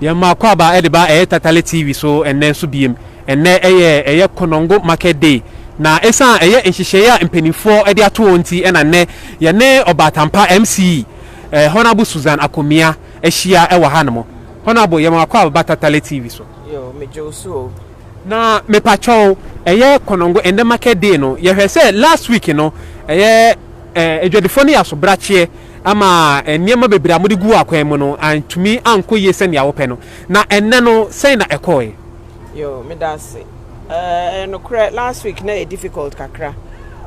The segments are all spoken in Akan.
Yɛn ma Akwaaba de ba ɛyɛ Tatale TV so ɛnnɛ nso biem. Ɛnnɛ ɛyɛ ɛyɛ Konongo Market Day na ɛsan ɛyɛ nhyehyɛeɛ a mpanimfoɔ de ato hɔ nti na nnɛ yɛne Ɔbaatampa MCE eh, Honourable Susan Akomia ahyia ɛwɔ ha nom. Honourable yɛn ma Akwaaba ba Tatale TV so. Yo, me Josu o. Na mepakyɛw ɛyɛ Konongo ɛnnɛ Market Day no yɛhwɛ sɛ last week no ɛyɛ eh, adwadifoɔ no yɛ asobrakyeɛ ama nneɛma bebree a mode guu akwan mu no antumi ankɔ yie sɛnea wopɛ no. Na ɛnnɛ no, sɛn na ɛkɔe? Yo, meda ase. Ɛyɛ nokorɛ, last week na ɛyɛ difficult kakra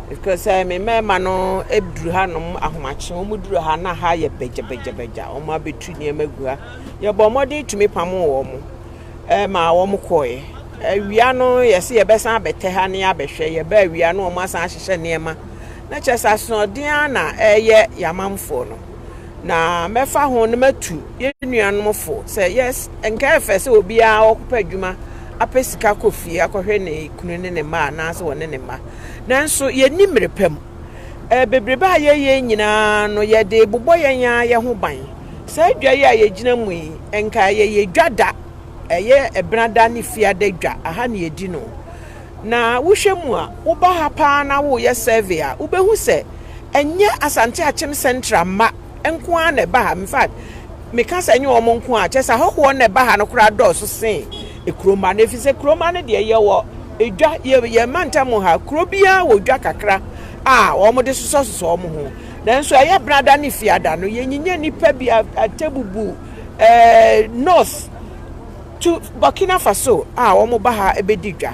because eh, me mmarima no duru hanom ahomakye, wɔn duru ha na ha yɛ bɛgyabagyabagya, wɔn abɛtu nneɛma gu ha. Yɛbɔ mmɔden tumi pamoo wɔn. ma wɔn kɔeɛ. Awia no yɛse yɛbɛsan abɛtɛ ha ne abɛhwɛ, yɛba awia no wɔn asan ahyehyɛ nneɛma. Na kyerɛ sɛ asoɔden ara na ɛyɛ yɛamanfoɔ no. Na mɛfa ho no matu yɛn nuanom fo sɛ yes, nka ɛfɛ sɛ obiara ɔkɔpɛ adwuma apɛ sika kɔ fie akɔhwɛ ne kunu ne ne mma anaasɛ wɔne ne mma. Nanso yɛnni mmerɛ pa mu. Bebrebe a yɛyɛ nyinaa no yɛde bobɔ yɛn ara yɛn ho ban. Saa dwa yi a yɛgyina mu yi, nka yɛyɛ dwa da, ɛyɛ ɛbena da ne fiada dwa, aha ne yɛdi no. Na wohwɛ mu a, woba ha paa na woyɛ survey a, wobɛhu sɛ ɛnyɛ Asante Akyem Central mma nko ara na ɛba ha. In fact, meka sɛ ɛnyɛ wɔn nko ara a, kyerɛ sɛ ahɔhoɔ na ɛba ha no koraa dɔɔso sen kuromma no, ɛfiri sɛ kuromma no deɛ yɛwɔ dwa, yɛn mantam ha, kuro biara wɔ dwa kakra a wɔde sosɔsosɔ wɔn ho. Nanso ɛyɛ Benada ne Fiada no, yɛnyinya nnipa bi atɛbubu North to Burkina Faso a wɔba ha bɛdi dwa.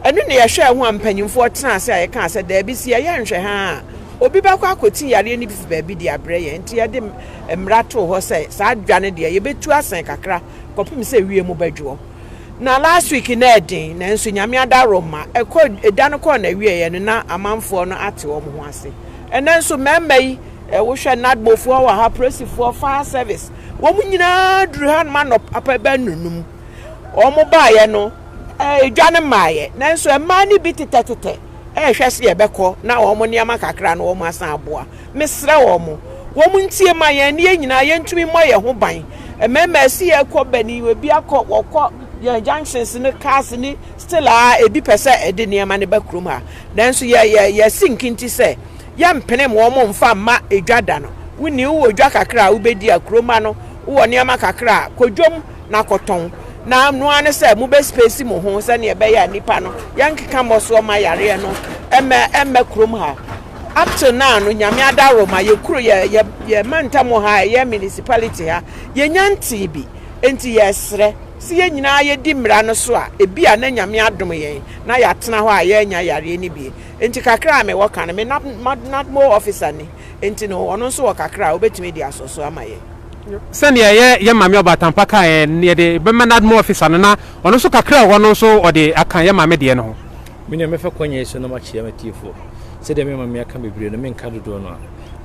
Ɛno na yɛhwɛɛ ho a mpanyimfoɔ tenaa ase a yɛkaa sɛ daabi si yɛyɛ nhwɛ ha a obi bɛkɔ akɔti yareɛ no bi fi baabi de abrɛ yɛn nti yɛde mmara too hɔ sɛ saa dwa no deɛ yɛbɛtu asɛn kakra kɔpem sɛ wiem bɛdwoɔ. Na last week na ɛden nanso nyame adaro ma ɛkɔ ɛda no kɔɔ na wieɛ no na amanfoɔ no ate wɔn ho ase ɛnɛ nso mɛmma yi wohwɛ nadmofoɔ wɔ ha presifoɔ fire service wɔn nyinaa duru ha noma nɔ papa bɛ nunum wɔn baayɛ no ɛdwa no maayɛ nanso ɛmaa no bi tetɛtetɛ ɛhwɛ se yɛbɛkɔ na wɔn nneɛma kakra no wɔn asan aboa Mesrɛ wɔn, wɔn ntie ma yɛn ne yɛn nyinaa yɛntumi mmɔ yɛn ho ban. Mmarima a ɛsɛ yɛkɔ bɛne yi, ebi akɔ, wɔkɔ yɛn junctions ne cars ne still a ebi pɛ sɛ ɛde nneɛma no ba kurom ha. Nanso yɛ, yɛ, yɛasi nkinti sɛ yɛmpenem wɔn mfa mma edwa da no. Wonni, wowɔ dwa kakra a wobɛdi a kurom ma no, wowɔ nneɛma kakra a, kɔ dwam na kɔtɔn. Na ɛno ara ne sɛ mobɛ space mo ho sɛdeɛ ɛbɛyɛ a nnipa no, yɛnkeka mmɔsoɔ mma yareɛ no ɛmmɛ, ɛmmɛ kurom ha. Up till now no nyame adaworo ma yɛ kuro yɛ yɛ yɛ mantam ha ɛyɛ municipality ha yɛnya ntee bi nti yɛsrɛ sɛ yɛn nyinaa yɛdi mmara no so a ebi a na nyame adom yɛn na yɛatena hɔ a yɛanya yareɛ no bie nti kakra a mewɔ ka no me na nadmo officer ni nti no ɔno nso wɔ kakra a wobɛtumi de asɔ so ama yɛn. Sɛdeɛ yɛ yɛ maame Ɔbatampa kaa yɛn no yɛde bɛma nadmo officer no na ɔno nso kakra a ɔwɔ no nso ɔde aka yɛ maame deɛ no ho. Me nua mɛfa kwanya yi so na makyea m'atiefo sɛdeɛ mema me aka bebree no menka dodoɔ no a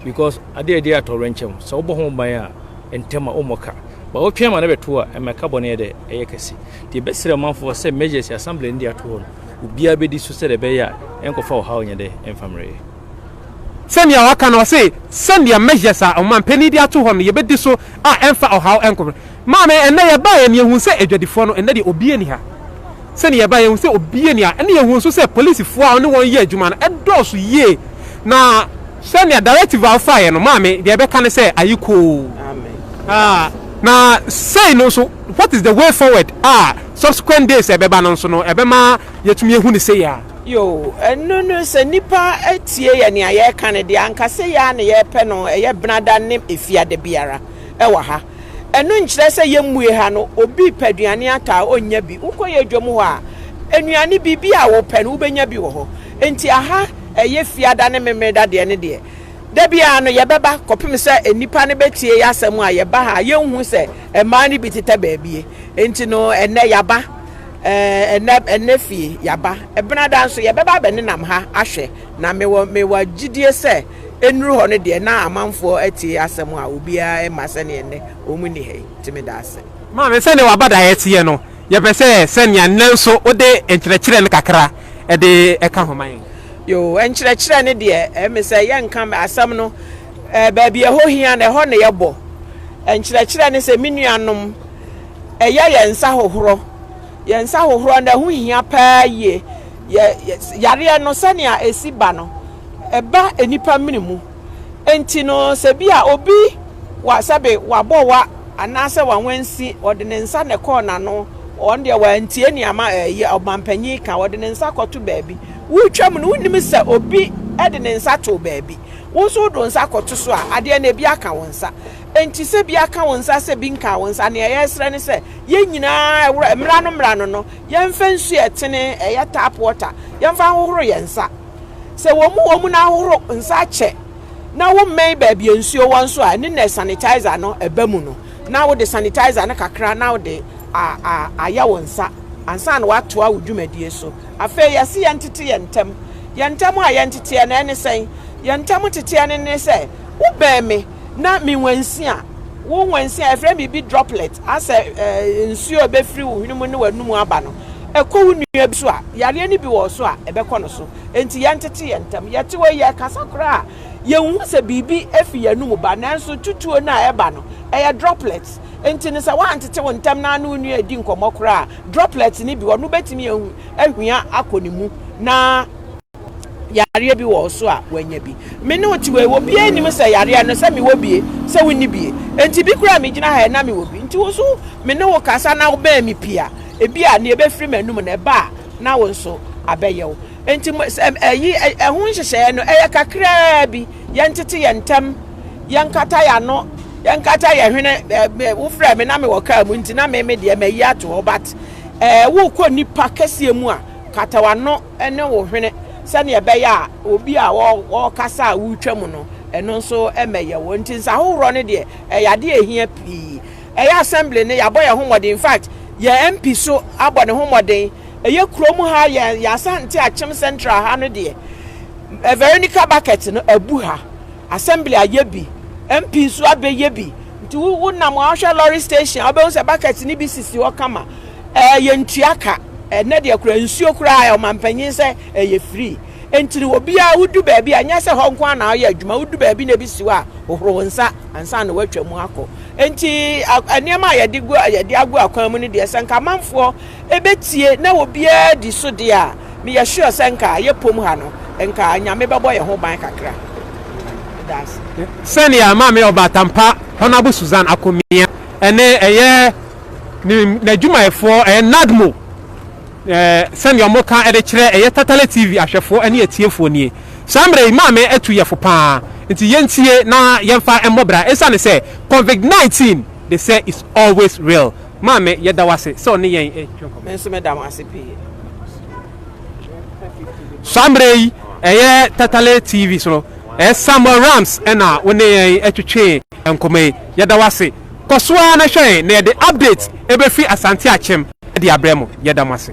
because adeɛ a ɛde atɔwerɛnkyɛm sɛ wobɔ ho ban a ntɛm a wommɔ ka ba wotwɛn ma no bɛto a ɛma ɛka bɔne dɛ ɛyɛ kɛse deɛ ɛbɛsrɛ ɔmanfoɔ sɛ measures assembly no de ato hɔ no obiara bɛdi so sɛdeɛ ɛbɛyɛ a ɛnkɔfa ɔhaw nyɛ dɛ ɛmfa mmerɛyɛ sɛnea waka no ɔse sɛnea measures a ɔmanpanin de ato hɔ no yɛbɛdi so a ɛmfa ɔhaw ɛnkɔmmerɛ Maame, ɛnnɛ yɛbaeɛ na yɛhuu sɛ adwadifoɔ no, ɛnnɛ deɛ obia nni ha. Sɛdeɛ yɛbaeɛ yɛhuu sɛ obia nni ha, ɛnna yɛhuu nso sɛ polisifoɔ a wɔne wɔn yɛ adwuma no dɔɔso yie, na. Sɛdeɛ directive a wofaeɛ no, maame, deɛ yɛbɛka ne sɛ, ayekoo. Ah, na sei no nso, what is the way forward a subsequent days a ɛbɛba no nso no, ɛbɛma yɛatumi ahu no sei ara? Yoo, ɛno no, sɛ nnipa atie yɛn nea yɛreka no deɛ, anka sei ara na yɛrepɛ no, ɛyɛ Benada ne Efiada biara wɔ ha. Ɛno nkyerɛ sɛ yɛmmue ha no, obi repɛ aduane atɔ a ɔnnya bi. Wokɔ yɛn dwam hɔ a, nnuane biribi a wopɛ no wobɛnya bi wɔ hɔ. Enti aha ɛyɛ Fiada ne Memeneda deɛ no deɛ, da biara no yɛbɛba kɔpem sɛ nnipa no bɛtie yɛn asɛm a yɛba ha a yɛnhu sɛ mmaa no bi tetɛ baabie. Enti no ɛnnɛ yɛaba, ɛnnɛ, ɛnnɛ fie yɛaba. Benada nso yɛbɛba abɛnenam ha ahwɛ. Na mewɔ, mewɔ gyidie sɛ. Ɛnnuru hɔ no deɛ na amanfoɔ atie asɛm a obiara ɛmma sɛdeɛ nnɛ wɔn nni ha yi nti meda ase. Maame sɛnea w'abadaeɛ teɛ no yɛpɛ sɛ sɛnea nnɛ nso wode nkyerɛkyerɛ no kakra de ɛka ho ma yɛn. Yoo nkyerɛkyerɛ no deɛ ɛme sɛ yɛnka asɛm no baabi a ɛhɔ hia no ɛhɔ na yɛbɔ nkyerɛkyerɛ no sɛ me nuanom ɛyɛ yɛn nsa hohorɔ yɛn nsa hohorɔ no ɛho hia paa yie Yɛ, yɛ, yareɛ no, sɛnea ɛsi ba no, ɛba nnipa mene mu. Enti no, sɛ bi a obi, wa, sɛbe wabɔ wa, anaasɛ wanwansi, ɔde ne nsa na ɛkɔɔ n'ano, ɔno deɛ wantie nea ma, ɛɛ, ɔmampanyin reka, ɔde ne nsa kɔto baabi. Woretwam no, wonnim sɛ obi de ne nsa too baabi. Wo nso wode wo nsa kɔto so a, adeɛ no, ebi aka wo nsa. Enti sɛ bi aka wo nsa, sɛ bi nkaa wo nsa, nea yɛresrɛ ne sɛ, yɛn nyinaa, ɛwora, mmra no, mmra no no, Yɛmfa nsu a ɛtene, ɛyɛ tap water, yɛmfa nhohoro yɛn nsa. Sɛ wɔ mu wɔ mu na ahohoro nsa kyɛ na wommɛn baabi a nsuo wɔ nso a, ɛno na sanitizer no ba mu no, na wode sanitizer no kakra na wode ayɛ wo nsa ansa na woatoa wo dwumadie so. Afei yɛse yɛntete yɛn ntam. Yɛn ntam a yɛnteteɛ no, ɛne sɛn? Yɛn ntam teteɛ no ne sɛ, wobɛn me, na me nwansia, wo nwansia, ɛfrɛ me bi droplet, asɛ eh, nsuo a ɛbɛfiri wo hwene mu ne w'anum aba no, ɛkɔ wo nua bi so a, yareɛ no bi wɔ so a, ɛbɛkɔ no so. Enti yɛntete yɛn ntam. Yɛte hɔ yɛkasa koraa a, yɛnhu sɛ biribi afi yɛn anum ba, nanso tutuo no a ɛba no, ɛyɛ droplet. Enti no sɛ woantete wo ntam na ne wo nua redi nkɔmmɔ koraa a, droplet no bi, ɔno bɛtumi ahwia akɔ ne mu na yareɛ bi wɔ wo so a, wanya bi. Me ne wo te wei, obiara nnim sɛ yareɛ no sɛ mewɔ bie, sɛ wonni bie. Enti bi koraa a megyina ha yɛ na mewɔ bi. Nti wo nso me ne wo kasa na wobɛn me pii a, ebi a nea ɛbɛfiri m'anum no ɛba a, na wo nso abɛyɛ wo. Enti ɛyi ɛho nhyehyɛeɛ no ɛyɛ kakraa bi, yɛntete yɛn ntam, yɛnkata yɛn ano, yɛnkata yɛn hwene. Wofrɛ me na mewɔ kaa mu nti na me me deɛ mayi ato hɔ but ɛɛ wokɔ nipa kɛseɛ mu a, kata w'ano. ne wo hwene sɛnea ɛbɛyɛ a obi a ɔrekasa a woretwam no, ɛno nso mmɛyɛ wo. Nti nsahohorɔ no deɛ, ɛyɛ adeɛ a ɛhia pii. Ɛyɛ Assembly no, yɛabɔ yɛn ho mmɔden. In fact, yɛn MP nso abɔ ne ho mmɔden. Ɛyɛ kurom ha, yɛn yɛn Asante Akyem Central ha no deɛ, Veronica Bucket no abu ha. Assembly ayɛ bi, MP nso abɛyɛ bi. Nti wo wonam a, wohwɛ lorry station a, wobɛhu sɛ bucket no bi sisi hɔ kama. Ɛɛ yɛntua ka. Ɛnnɛ deɛ koraa nsuo koraa ɛyɛ ɔmanpanyin sɛ ɛyɛ free. Enti no obiara wodu baabi a ɛnyɛ sɛ hɔ nko ara na woyɛ adwuma, wodu baabi na ebi si hɔ a hohoro wo nsa ansa na woatwa mu akɔ. Enti nneɛma a yɛde gu yɛde agu akwan mu no deɛ sɛ nka amanfoɔ ɛbɛtie na obiara di so deɛ a meyɛ sure sɛ nka yɛ pom ha no nka Nyame bɛbɔ yɛn ho ban kakra. Meda ase. Sɛnea Maame Ɔbatampa Honourable Susan Akomia ɛne ɛyɛ Ne n'adwumayɛfoɔ ɛyɛ NADMO ɛɛ sɛdeɛ wɔn ka ɛde kyerɛ ɛyɛ Tatale TV ahwɛfoɔ ɛne atiefoɔ nie. Saa mmerɛ yi maame atu yɛfo paa nti yɛntie na yɛnfa ɛmmɔ bra ɛsiane sɛ Covid 19 de sɛ is always real. Maame yɛda wo ase sɛ ɔne yɛn ɛtwe nkɔmmɔ. Me nso meda mo ase pii. Saa mmerɛ yi ɛyɛ Tatale TV so no ɛyɛ Samuel Rams ɛna wo ne yɛn ɛtwetwe nkɔmmɔ yi. Yɛda wo ase. Kɔ so ara na hwɛn na yɛde updates befi Asante akyem de abrɛ mo. Yɛda mo ase.